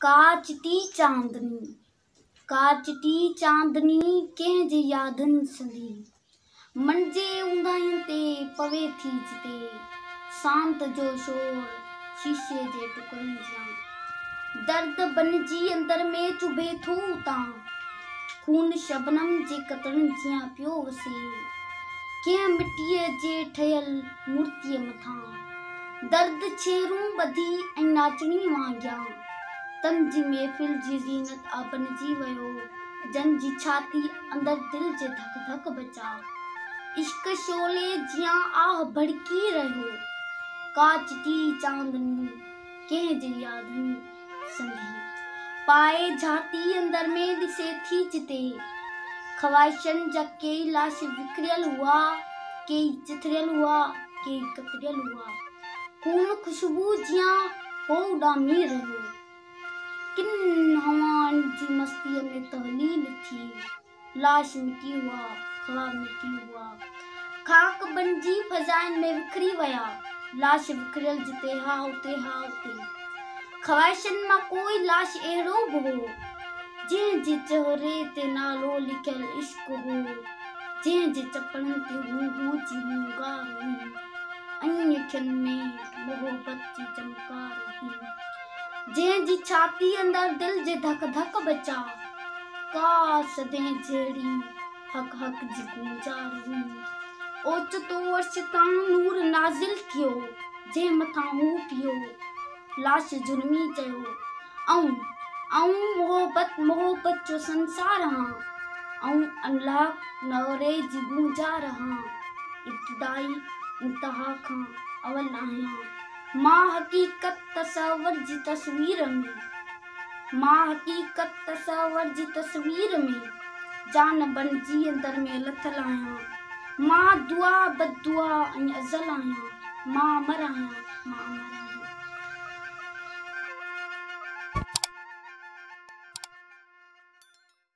ڪا چٽي چاندني، ڪا چٽي چاندني ڪنهن جي يادن سندي، منجهي اونداهين تي پوي ٿي جتي، سانت جو شور شيشي جي ٽڪرن جيان، درد بنجي اندر ۾ چڀي ٿو اتان، خون شبنم جي قطرن جيان پيو وسي، ڪنهن مٽيء جي ٺهيل مورتيء مٿان. درد ڇيرون ٻڌي ۽ ناچڻي وانگيان تن جي محفل جي زينت آ بنجي ويو جن جي ڇاتي اندر دل جي ڌڪ ڌڪ بچا عشق شعلي جيان آه ڀڙڪي رهيو ڪا چٽي چاندني ڪنهن جي يادن سنڌي پائي جهاتي اندر ۾ ڏسي ٿي جتي خواهشن جا ڪيئي لاش وکريل هئا، ڪيئي چٿريل هئا، ڪيئي ڪتريل هئا. خون خوشبوء جيان هو اڏامي رهيو. ڪن هوائن جي مستيء ۾ تهليل ٿي. لاش مٽي هئا، خواب مٽي هئا. خاڪ بنجي فضائن ۾ وکري ويا. لاش وکريل جتي ها اتي ها اتي. خواهشن مان ڪوئي لاش اهڙو به هو. جنهن جي چهري تي نالو لکيل عشق هو. جنهن جي چپن تي هو هو جي هونگار هئي ۽ اکين ۾ محبت جي چمڪار هئي. جنهن جي ڇاتي اندر دل جي ڌڪ ڌڪ بچا. ڪاش تنهن جهڙي حق حق جي گونجار هئي. اوچتو عرش تان نور نازل ٿيو، جنهن مٿان هو پيو. لاش جرمي چيو، آئون، آئون محبت محبت جو سنسار هان. آئون انلاڪ نعري جي گونجار هان. ابتدائي انتها کان اول آهيان. مان حقيقت تصور جي تصوير ۾. مان حقيقت تصور جي تصوير ۾ جان بنجي اندر ۾ لٿل آهيان. مان دعا، بددعا ۽ ازل آهيان. مان امر آهيان، مان امر آهيان.